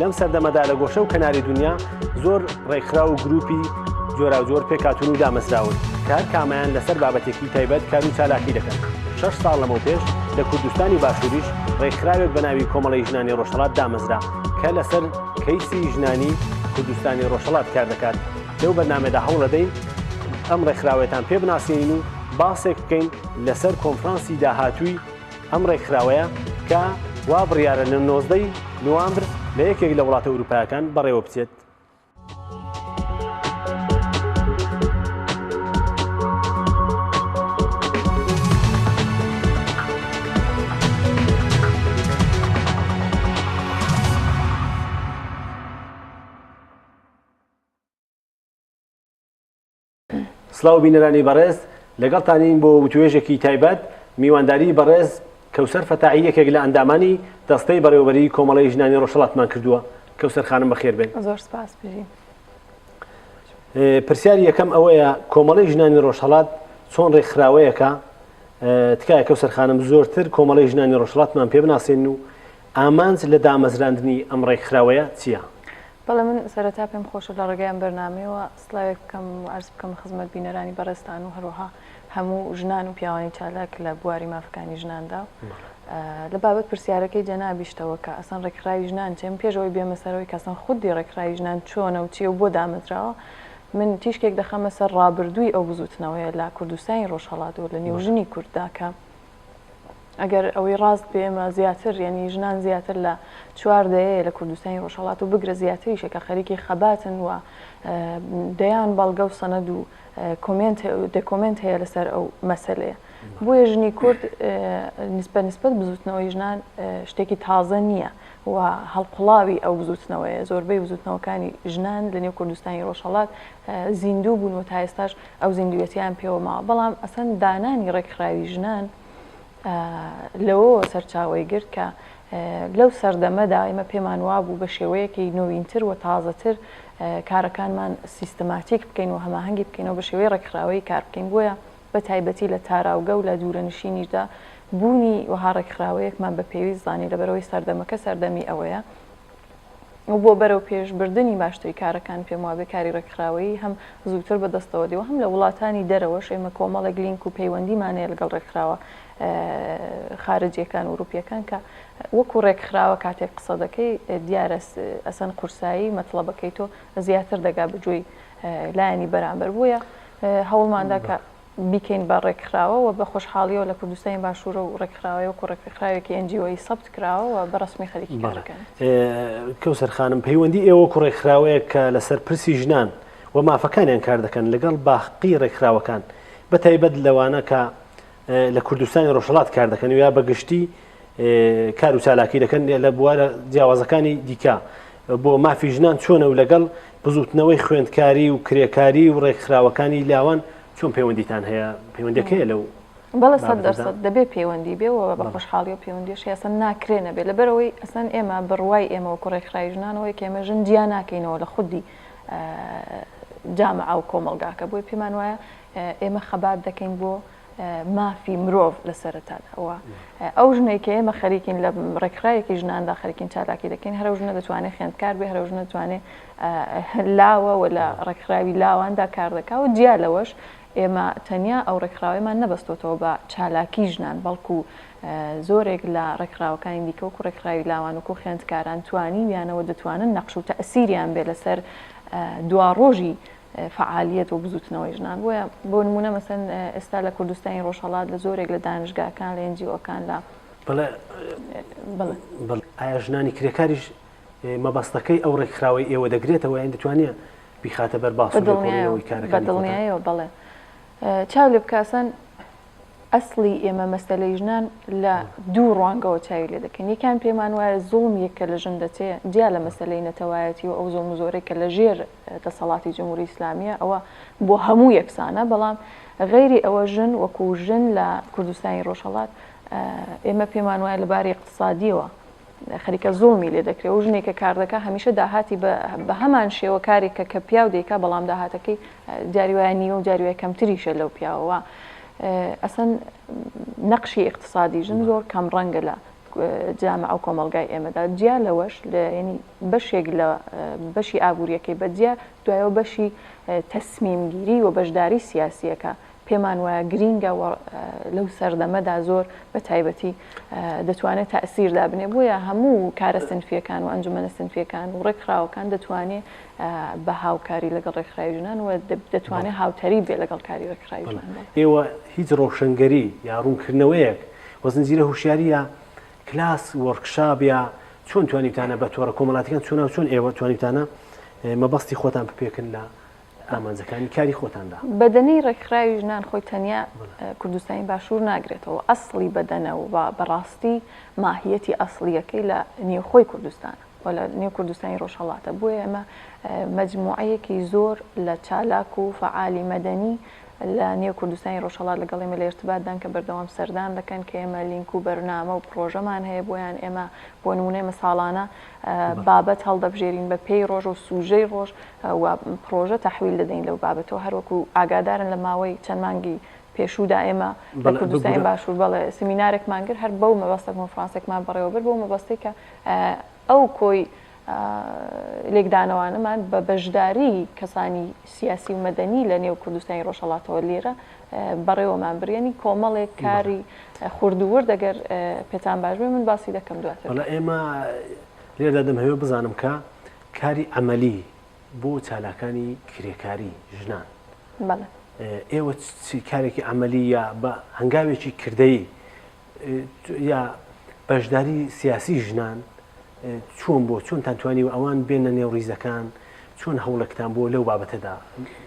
لەم سەردەمەدا لە گۆشە و کەناری دنیا زۆر ڕێکخراو و گروپی جۆراوجۆر پێکاتون و دامەزراون کار کامیان لەسەر بابەتێکی تایبەت کار و چالاکی دەکەن شش ساڵ لەمەو پێش لە کوردستانی باشووریش ڕێکخراوێک بە ناوی کۆمەڵی ژنانی ڕۆژهڵات دامەزرا کە لەسەر کەیسی ژنانی کوردستانی ڕۆژهڵات کار دەکات لەو بەرنمەدا هەوڵەدەین ئەم ڕێکخراوێتان پێ بناسیین و باسێک بکەین لەسەر کۆنفرانسی داهاتووی ئەم ڕێکخراوەیە کە وا بڕیارە لە نۆزدەی نوامبر لە یەکێک لە وڵاتە ئوروپایەکان بەڕێوە بچێت. سڵاو بینەرانی بەڕێز لەگەڵتانین بۆ وتوێژێکی تایبەت میوانداری بەڕێز کەوسەر فەتاحی یەکێک لە ئەندامانی دەستەی بەڕێوەبەری کۆمەڵی ژنانی ڕۆژهڵاتمان کردووە کەوسەر خانم بەخێر بێن زۆر سپاس بژین پرسیاری یەکەم ئەوەیە کۆمەڵی ژنانی ڕۆژهڵات چۆن ڕێکخراوەیەکە تکایە کەو سەرخانم زۆرتر کۆمەڵی ژنانی ڕۆژهڵاتمان پێ بناسێن و ئامانج لە دامەزراندنی ئەم ڕێکخراوەیە چییە؟ بەڵێ من سەرەتا پێم خۆشە لە ڕێگەیان بەرنمەوە سلاوێک بکەم و عەرز بکەم خزمەت بینەرانی بەڕێزتان و هەروەها هەموو ژنان و پیاوانی چالاک لە بواری مافەکانی ژناندا و لە بابەت پرسیارەکەی جەنابیشتەوە کە ئەسەن ڕێکخراوی ژنان چێم پێشەوەی بێمەسەرەوەی کەسەن خودی ڕێکخراوی ژنان چۆنە و چیە و بۆ دامەزراوە من تیشکێک دەخەمە سەر ڕابردووی ئەو بزوتنەوەیە لە کوردستانی ڕۆژهەڵات و لە نێو ژنی کورددا کە ئەگەر ئەوەی ڕاست بێ ئێمە زیاتر یعنی ژنان زیاتر لە چوار دەیەیە لە کوردستانی ڕۆژهەڵات و بگرە زیاتریشە کە خەریکی خەباتن و دەیان بەڵگە و سەند و دەکۆمنت هەیە لەسەر ئەو مەسلەیە بۆیە ژنی کورد نسبە نسبەت بزوتنەوەی ژنان شتێکی تازە نییە و هەڵقڵاوی ئەو بزوتنەوەیە زۆربەی بزوتنەوەکانی ژنان لە نێو کوردستانی ڕۆژهڵات زیندوو بوون و تا ئێستاش ئەو زیندووێتییان پێوە ماوە، بەڵام ئەسەن دانانی ڕێکخراوی ژنان لەوەوە سەرچاوەی گرت کە لەو سەردەمەدا ئێمە پێمان وابوو بە شێوەیەکی نۆینتر و تازەتر کارەکانمان سیستماتیک بکەین و هەماهەنگی بکەینەوە بە شێوەی ڕێکخراوەیی کار بکەین بۆیە بە تایبەتی لە تاراوگە و لە دوورەنشینیشدا بوونی وەها ڕێکخراوەیەکمان بە پێویست زانی لەبەرئەوەی سەردەمەکە سەردەمی ئەوەیە و بۆ بەرەو پێش بردنی باشتری کارەکان پێم وابێ کاری رێکخراوەیی هەم زووتر بە دەستەوە دێ و هەم لە وڵاتانی دەرەوەش ئێمە کۆمەڵێک لینک و پەیوەندیمان هەیە لەگەڵ رێکخراوە خارجیەکان و ئوروپیەکان کە وەکو رێکخراوە کاتێک قسە دەکەی دیارە ئەسەن قورسایی مەتڵەبەکەی تۆ زیاتر دەگا بە گوێی لایەنی بەرامبەر بۆیە هەوڵماندا کە بیکەین بە ڕێکخراوە و بە خۆشحاڵیەوە لە کوردستانی باشوورە و ڕێکخراوەیە وەکو ڕێکخراوێکی ئێن جی ئۆیی سەبت کراوە و بە ڕەسمی خەریکی کارەکەن. کەوسەر خانم، پەیوەندی ئێوە وەکو ڕێکخراوەیەک کە لەسەر پرسی ژنان و مافەکانیان کار دەکەن لەگەڵ باقی ڕێکخراوەکان بە تایبەت لەوانە کە لە کوردستانی ڕۆژهەڵات کار دەکەن و یا بە گشتی کار و چالاکی دەکەن لە بوارە جیاوازەکانی دیکە بۆ مافی ژنان چۆنە و لەگەڵ بزوتنەوەی خوێندکاری و کرێکاری و ڕێکخراوەکانی لاوان چۆن پەیوەندیتان هەیە پەیوەندەکەی لەو بەڵێ سەد دەرسەد دەبێ پەیوەندی بێ و بە خۆشحاڵی و پەیوەندیش یاسەن ناکرێ نەبێ لەبەرەوەی ئەسەن ئێمە بڕوای ئێمەوە کوڕێکخرای ژنانەوەی کێمە ژن جیا ناکەینەوە لە خودی جامعە و کۆمەلگاکە بۆی پێمان وایە ئێمە خەبات دەکەین بۆ مافی مرۆڤ لە سەرەتادا و ئەو ژنەی کە ئێمە خەریکین لە ڕێکخراوێکی ژناندا خەرکین چالاکی دەکەین هەرو ژنە دەتوانێت خوێندکار بێ هەرو ژنە دەتوانێت لاوە و لە ڕێکخراوی لاواندا کار دەکا و جیا لەوەش ئێمە تەنیا ئەو ڕێکخراوەمان نەبەستۆتەوە بە چالاکی ژنان بەڵکو زۆرێک لە ڕێکخراوەکانی دیکە و کوڕێکخراوی لاوان و کو خوێندکاران توانی ویانەوە دەتوانن نەقش و تەسیریان بێ لەسەر دوا ڕۆژی فەعالییەت و بزووتنەوەی ژنان بۆیە بۆ نموونە مەسەن ئێستا لە کوردستانی ڕۆژهەڵات لە زۆرێک لە دانشگاکان لە ئنجیۆکان لە بەڵێ بڵێ بەڵێ ئایا ژنانی کرێکاریش مەبەستەکەی ئەو ڕێکخراوەی ئێوە دەگرێتەوە یان دەتوانێت بیخاتە بەر باس بەدڵنیایەوە بڵێ چاو لێ بکسن ئەسڵی ئێمە مەسلەی ژنان لە دوو ڕوانگەوە چاوی لێ دەکەن یەکان پێمان وایە زوڵم یەکە لە ژن دەچێت جیا لە مەسلەی نەتەوایەتی و ئەو زۆم زۆرەی کە لە ژێر دەسەڵاتی جمهوری ئیسلامیە ئەوە بۆ هەموو یەکسانە بەڵام غەیری ئەوە ژن وەکو ژن لە کوردستانی ڕۆژهەڵات ئێمە پێمان وایە لە باری اقتصادیەوە خەریکە زۆڵمی لێ دەکرێت و ژنێکە کاردەکە هەمیشە داهاتی بە هەمان شێوە کارێکە کە پیاو دەیکا بەڵام داهاتەکەی جاریوایە نیوە و جاریوای کەمتریشە لەو پیاوەوە ئەسەن نەقشی اقتصادی ژن زۆر کەم ڕەنگە لە جامع و کۆمەلگای ئێمەدا جیا لەوەش لە ینی بەشێک لە بەشی ئابوورییەکەی بەجیا دوایەوە بەشی تەسمیمگیری و بەشداری سیاسییەکە پێمان وایە گرینگە و لەو سەردەمەدا زۆر بە تایبەتی دەتوانێت تەئسیر دابنێ بۆیە هەموو کارە سنفییەکان و ئەنجومەنە سنفییەکان و ڕێکخراوەکان دەتوانێ بە هاوکاری لەگەڵ ڕێکخراوی ژنان و دەتوانێ هاوتەریب بێ لەگەڵ کاری ڕێکخراوی ژنان بڵێ. ئێوە هیچ ڕەوشەنگەری یا ڕوونکردنەوەیەک و زنجیرە هوشیارییە کلاس وۆرکشاپ یا چۆن توانیوتانە بە تۆڕە کۆمەڵاتەکان چۆنا و چۆن ئێوە توانیوتانە مەبەستی خۆتان بپێکن لە ئامانجەکانی کاری خۆتاندا بەدەنەی ڕێکخراوی ژنان خۆی تەنیا کوردستانی باشوور ناگرێتەوە ئەسڵی بەدەنە و بەڕاستی ماهیەتی ئەسڵیەکەی لە نێوخۆی کوردستانە. و لە نێو کوردستانی ڕۆژهەڵاتە، بۆیە ئێمە مەجموعەیەکی زۆر لە چالاک و فەعالی مەدەنی لە نێو کوردستانی ڕۆژهەڵات لەگەڵ ئێمە لە ئیرتباتدان کە بەردەوام سەردان دەکەن کە ئێمە لینک و بەرنامە و پڕۆژەمان هەیە بۆیان ئێمە بۆ نموونە ئێمە ساڵانە بابەت هەڵدەبژێرین بە پێی ڕۆژ و سوژەی ڕۆژ و پڕۆژە تەحویل دەدەین لەو بابەتەوە هەروەکو ئاگادارن لە ماوەی چەند مانگی پێشوودا ئێمە لە کوردستانی باشوور بەڵێ سمینارێکمان کرد هەر بەو مەبەستە کۆنفڕانسێکمان بەڕێوەبرد بەو مەبەستەی کە ئەو کۆی لێکدانەوانەمان بە بەشداری کەسانی سیاسی و مەدەنی لە نێو کوردستانی ڕۆژهەڵاتەوە لێرە بەڕێوەمان برێنی کۆمەڵێک کاری خوردوورد دەگەر پێتان باش بێ من باسی دەکەم دواتر لە ئێمە لێدا دەم هەوێ بزانم کە کاری ئەمەلی بۆ چالاکانی کرێکاری ژنان ئێوە کارێکی ئەمەلی یا بە هەنگاوێکی کردەی یا بەشداری سیاسی ژنان چۆن بۆ چۆنتان توانیوە ئەوان بێنە نێو ڕیزەکان چۆن هەوڵێکتان بۆ لەو بابەتەدا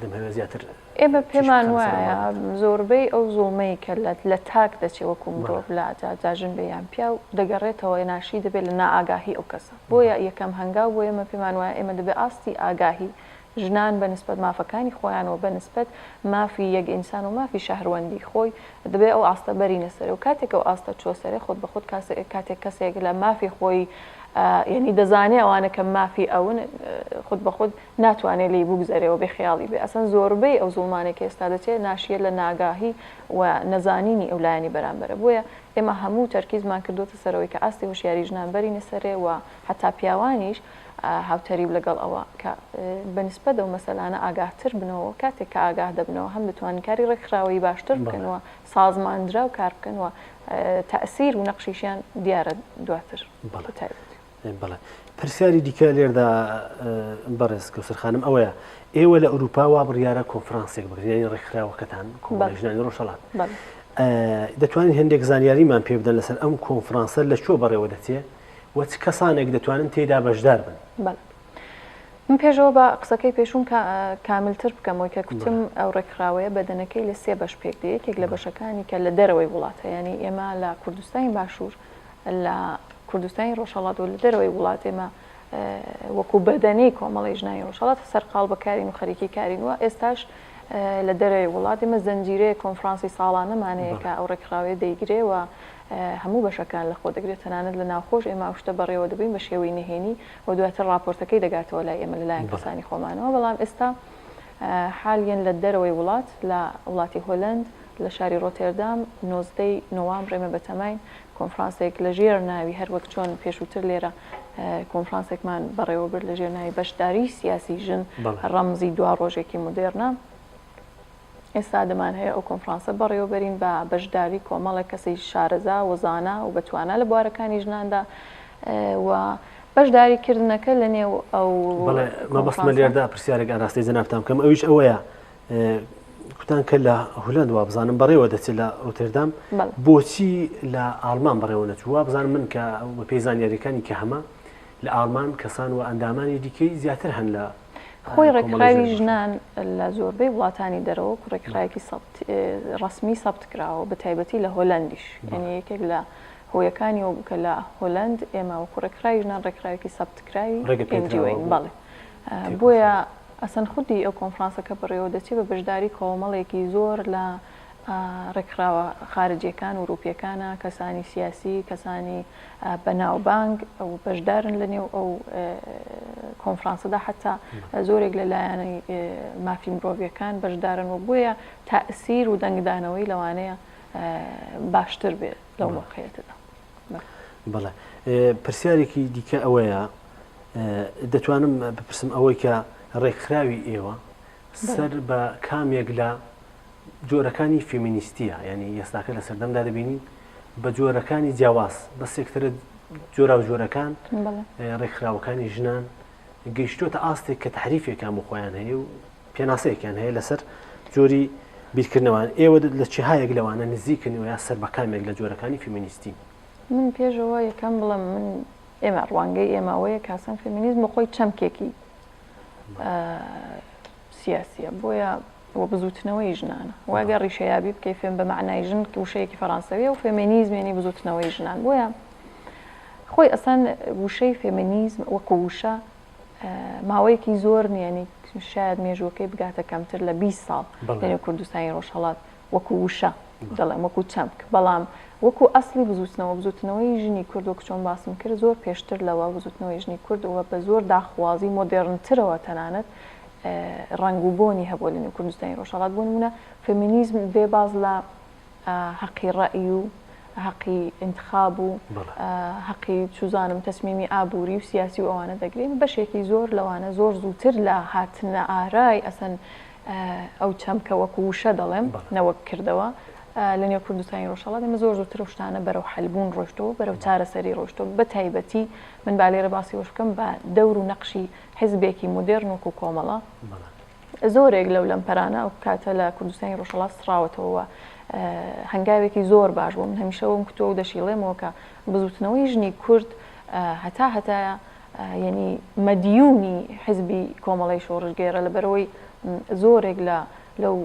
دەمهوێ زیاتر ئێمە پێمان وایە زۆربەی ئەو زۆڵمەی کە لە لە تاک دەچێ وەکو مرۆڤ لا جاژن بێ یان پیا و دەگەڕێتەوە ناشی دەبێت لە نائگاهی ئەو کەسە بۆیە یەکەم هەنگاو بۆ ئێمە پێمان وایە ئێمە دەبێت ئاستی ئاگاهی ژنان بە نسبەت مافەکانی خۆیان و بە نسبەت مافی یەک ئینسان و مافی شەهروەندی خۆی دەبێ ئەو ئاستە بەرینە سەرێ و کاتێک ئەو ئاستە چووە سەرێ خۆت بە خۆت کاتێک کەسێک لە مافی خۆی یەنی دەزانێ ئەوانە کە مافی ئەون خۆت بە خۆت ناتوانێ لێی بوگزەرێ و بێ خیاڵی بێ ئەسەن زۆربەی ئەو زوڵمانێک ئێستا دەچێ ناشیە لە ناگاهی و نەزانینی ئەو لایەنی بەرامبەرە بۆیە ئێمە هەموو تەرکیزمان کردۆتە سەرەوەی کە ئاستی هۆشیاری ژنان بەرینە سەرێ و حەتا پیاوانیش هاوتەریب لەگەڵ ئەوە کە بە نیسبەت ئەو مەسەلانە ئاگاهتر بنەوە، کاتێک کە ئاگاه دەبنەوە هەم دەتوانن کاری ڕێکخراوەیی باشتر بکەن و سازماندراو کار بکەن و تەئسیر و نەقشیشیان دیارە دواتر. بەڵێ تایبەتی. بەڵێ پرسیاری دیکە لێردا بەڕێز کەوسەر خانم ئەوەیە ئێوە لە ئەوروپا وا بڕیارە کۆنفرانسێک بگرێنی ڕێکخراوەکەتان کۆمەژنانی ڕۆژەڵات دەتوانین هەندێک زانیاریمان پێ بدەن لەسەر ئەم کۆنفرانسە لە چۆ بەڕێوە دەچێت و چ کەسانێک دەتوانن تێیدا بەشدار بن؟ بەڵێ. من پێشەوە با قسەکەی پێشووم کاملتر بکەمەوەی کە کوتم ئەو ڕێکخراوەیە بەدەنەکەی لە سێ بەش پێک دێ یەکێک لە بەشەکانی کە لە دەرەوەی وڵاتە ینی ئێمە لە کوردستانی باشوور لە کوردستانی ڕۆژهڵات و لە دەرەوەی وڵات ئێمە وەکو بەدەنەی کۆمەڵی ژنانی ڕۆژهڵات سەرقال بەکارین و خەریکی کارین وە ئێستاش لە دەرەوەی وڵات ئێمە زنجیرەیە کۆنفرانسی ساڵانەمانەیە کە ئەو ڕێکخراوێ دەیگرێ و هەموو بەشەکان لەخۆ دەگرێت تەنانەت لە ناوخۆش ئێمە ئەو شتە بەڕێوە دەبەین بە شێوەی نهێنی و دواتر ڕاپۆرتەکەی دەگاتەوە لای ئێمە لەلایەن کەسانی خۆمانەوە بەڵام ئێستا حالیەن لە دەرەوەی وڵات لە وڵاتی هۆلەند لە شاری ڕۆتێردام نۆزدە ی نۆامبر ئێمە بەتەماین کۆنفرانسێک لە ژێر ناوی هەر وەک چۆن پێشووتر لێرە کۆنفرانسێکمان بەڕێوەبرد لە ژێر ناوی بەشداریی سیاسی ژن ڕەمزی دوا ڕۆژێکی مودێڕنە. ئێستا دەمان هەیە ئەو کۆنفرانسە بەڕێوەبەرین بە بەشداری کۆمەڵێک کەسی شارەزا و زانا و بەتوانا لە بوارەکانی ژناندا و بەشداری کردنەکە لە نێو ئەو مەبەستمە لێردا پرسیارێک ئاراستەی جەنابتان بکەم ئەویش ئەوەیە کوتان کە لە هولند وا بزانم بەڕێوە دەچێت لە ڕوتێردام بۆچی لە ئالمان بەڕێوە نەچووە بزانم من کە بە پێی زانیاریەکانی کە هەمە لە ئالمان کەسان و ئەندامانی دیکەی زیاتر هەن لە خۆی ڕێکخراوی ژنان لە زۆربەی وڵاتانی دەرەوە ڕێکخراوێکی ڕسمی سەبت کراوە بە تایبەتی لە هۆلندیش یعنی یەکێک لە هۆیەکانی وە بکە لە هۆلند ئێمە وەکو ڕێکخراوی ژنان ڕێکخراوێکی سەبت کراوی ڕێگەپێنجیوەین بەڵێ بۆیە ئەسەن خودی ئەو کۆنفرانسەکە بڕێوە دەچێت بە بەشداری کۆمەڵێکی زۆر لە ڕێکخراوە خارجیەکان وروپیەکانە کەسانی سیاسی کەسانی بەناوبانگ و بەشدارن لە نێو ئەو کۆنفرانسەدا حتا زۆرێک لە لایەنی مافی مرۆڤیەکان بەشدارن و بۆیە تائسیر و دەنگدانەوەی لەوانەیە باشتر بێ لەو مۆقعیەتەدا. بەڵێ پرسیارێکی دیکە ئەوەیە دەتوانم بپرسم ئەوەی کە ڕێکخراوی ئێوە سەر بە کامێک لە جۆرەکانی فێمینیستییە، یانی یەساکە لە سەردەمدا دەبینین بە جۆرەکانی جیاواز بە سێکتەرە جۆرا و جۆرەکان ڕێکخراوەکانی ژنان گەیشتوتە ئاستێک کە تحریفێکان بۆ خۆیان هەیە و پێناسەیەکیان هەیە لەسەر جۆری بیرکردنەوەن ئێوە لە چهایەک لەوانە نزیکن و یا سەر بەکامێک لە جۆرەکانی فیمینیستی من پێشەوە یەکەم بڵم من ئێمە ڕوانگەی ئێماوەیە کاسان فێمینیزم بۆ خۆی چەمکێکی سیاسیە بۆیە و بزووتنەوەی ژنانە و ئەگەر ڕیشەیابی بکەی فێم بە مەعنای ژن وشەیەکی فەرانسەویە و فێمێنیزم یانی بزووتنەوەی ژنان بۆیە خۆی ئەسان وشەی فێمێنیزم وەکو وشە ماوەیەکی زۆر نیانی شاید مێژووەکەی بگاتە کەمتر لە 20 ساڵ لەێ کوردستانی ڕۆژهڵات وەکو وشە دەڵێم وەکو چەمک بەڵام وەکو ئەسلی بزوتنەوە بزوتنەوەی ژنی کورد وەک چۆن باسم کرد زۆر پێشتر لەوە بزوتنەوەی ژنی کردەوە بە زۆر داخوازی مۆدێرنترەوە تەنانەت ڕەنگ و بۆنی هەبووە لە نێو کوردستانی ڕۆژهەڵات، بۆ نموونە فێمینیزم بێ باز لە هەقی ڕەئی و هەقی ئینتخاب و هەقی چوزانم تەسمیمی ئابووری و سیاسی و ئەوانە دەگرێن، بەشێکی زۆر لەوانە زۆر زووتر لە هاتنە ئارای ئەسەن ئەو چەمکە وەکوو وشە دەڵێم نەوەک کردەوە لە نێو کوردستانی ڕۆژهەڵات، ئێمە زۆر زووتر ئەو شتانە بەرەو حەلبوون ڕۆشتووە، بەرەو چارەسەری ڕۆشتووە، بەتایبەتی من با لێرە باسی ئەوەش بکەم بە دەور و نەقشی حیزبێکی مۆدێرن وەکوو کۆمەڵە زۆرێک لەو لەمپەرانە ئەو کاتە لە کوردستانی ڕۆژهەڵات سڕاوەتەوە و هەنگاوێکی زۆر باش بوو. من هەمیشە وەم کوتووە و دەشیڵێمەوە کە بزووتنەوەی ژنی کورد هەتا هەتایە یەنی مەدیوونی حیزبی کۆمەڵەی شۆڕشگێڕە لەبەرئەوەی زۆرێک لە لەو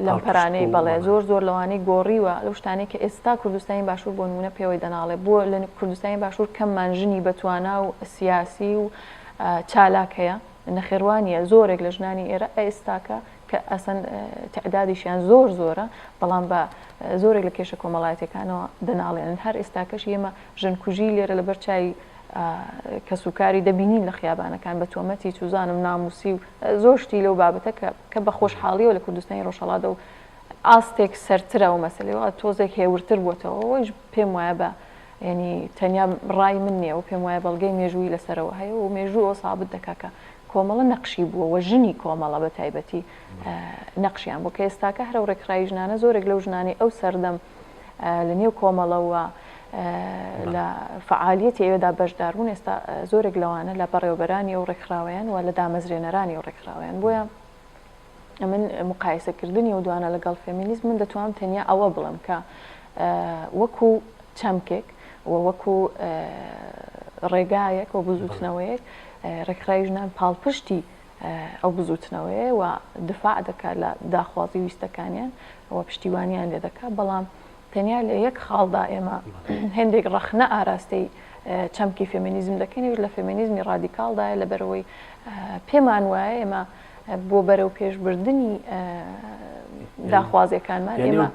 لەمپەرانەی بەڵێ زۆر زۆر لەوانەی گۆڕیوە لەو شتانەی کە ئێستا کوردستانی باشوور بۆ نموونە پێوەی دەناڵێ بۆ لە کوردستانی باشوور کەممان ژنی بەتوانا و سیاسی و چالاک هەیە نەخێر وا نییە زۆرێک لە ژنانی ئێرە ئێستاکە کە ئەسەن تعدادیشیان زۆر زۆرە بەڵام بە زۆرێک لە کێشە کۆمەڵایەتەکانەوە دەناڵێنن هەر ئێستاکەش ئێمە ژنکوژی لێرە لەبەر چای کەسوکاری دەبینین لە خیابانەکان بە تۆمەتی چوزانم ناموسی و زۆر شتی لەو بابەتە کە کە بە خۆشحاڵیەوە لە کوردستانی ڕۆژهەڵاتدا و ئاستێک سەرترە ئەو مەسەلەی و تۆزێک هێورتر بووەتەوە ئەویش پێم وایە بە یعنی تەنیا ڕای من نییە و پێم وایە بەڵگەی مێژووی لەسەرەوە هەیە و مێژوو ئەوە سابت دەکا کە کۆمەڵە نەقشی بووە و ژنی کۆمەڵە بە تایبەتی نەقشیان بوو کە ئێستاکە هەرە و ڕێکخراوی ژنانە زۆرێک لەو ژنانەی ئەو سەردەم لە نێو کۆمەڵە و لە فعالیەتی ئەوێدا بەشدار بوون ئێستا زۆرێک لەوانە لە بەڕێوبەرانی ئەو ڕێکخراوەیان و لە دامەزرێنەرانی و ڕێکخراوەیان بۆیە من مقایسەکردنی و دوانە لەگەڵ فێمینیزم من دەتوانم تەنیا ئەوە بڵم کە وەکو چەمکێک و وەکو ڕێگایەک و بزوتنەوەیەک ڕێکخراوی ژنان پاڵپشتی ئەو بزووتنەوەیە و دفاع دەکات لە داخوازی و ویستەکانیان و پشتیوانیان لێ دەکات، بەڵام تەنیا لە یەک خاڵدا ئێمە هێندێک ڕەخنە ئاراستەی چەمکی فێمینیزم دەکەین، ئەویش لە فێمینیزمی ڕادیکاڵدایە، لەبەرئەوەی پێمان وایە ئێمە بۆ بەرەوپێشبردنی داخوازییەکانمان ئێمە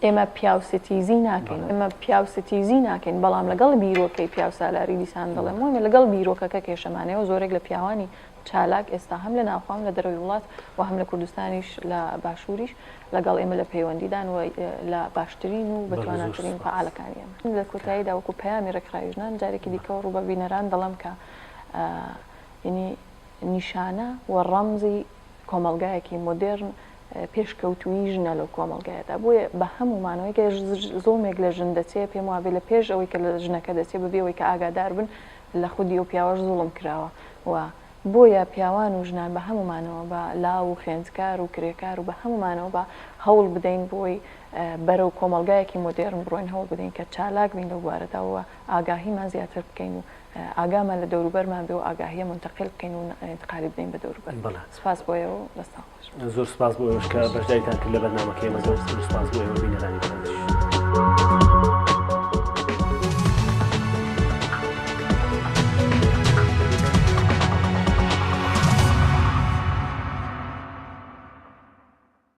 ئێمە پیاوستیزی ناکەین، ئێمە پیاوستیزی ناکەین، بەڵام لەگەڵ بیرۆکەی پیاوسالاری دیسان دەڵێم، وایە لەگەڵ بیرۆکەکە کێشەمانەیە و زۆرێک لە پیاوانی چالاک ئێستا هەم لە ناوخۆ هەم لە دەرەوەی وڵات و هەم لە کوردستانیش لە باشووریش لەگەڵ ئێمە لە پەیوەندیدان و لە باشترین و بەتواناترین فەعالەکانی ئێمەن. لە کۆتاییدا وەکو پەیامی ڕێکخراوی ژنان جارێکی دیکەوە ڕوو بە بینەران دەڵێم کە یەنی نیشانە و ڕەمزی کۆمەڵگایەکی مۆدێرن پێشکەوتوویی ژنە لەو کۆمەڵگایەدا بۆیە بە هەموو مانەوەی کە زۆڵمێک لە ژن دەچێ پێم وابێ لە پێش ئەوەی کە لە ژنەکە دەچێ بەبێ ئەوەی کە ئاگادار بن لە خودی ئەو پیاوەش زوڵم کراوە و بۆیە پیاوان و ژنان بە هەموومانەوە بە لاو و خوێندکار و کرێکار و بە هەموومانەوە با هەوڵ بدەین بۆی بەرەو کۆمەڵگایەکی مۆدێڕن بڕۆین هەوڵ بدەین کە چالاک بین لەو بوارەدا و ئاگاهیمان زیاتر بکەین و ئاگامان لە دەوروبەرمان بێ و ئاگاهیە مونتەقیل بکەین و ئینتقالی بدەین بە دەوروبەر سوپاس بۆ ئێوە و بەسڵام. زۆر سپاس بۆ ئێوەش کە بەشداریتان کرد لە بەرنمەکەی ئێمە دەست و سپاس بۆ ئێوە بینەرانی بەڕێزیش.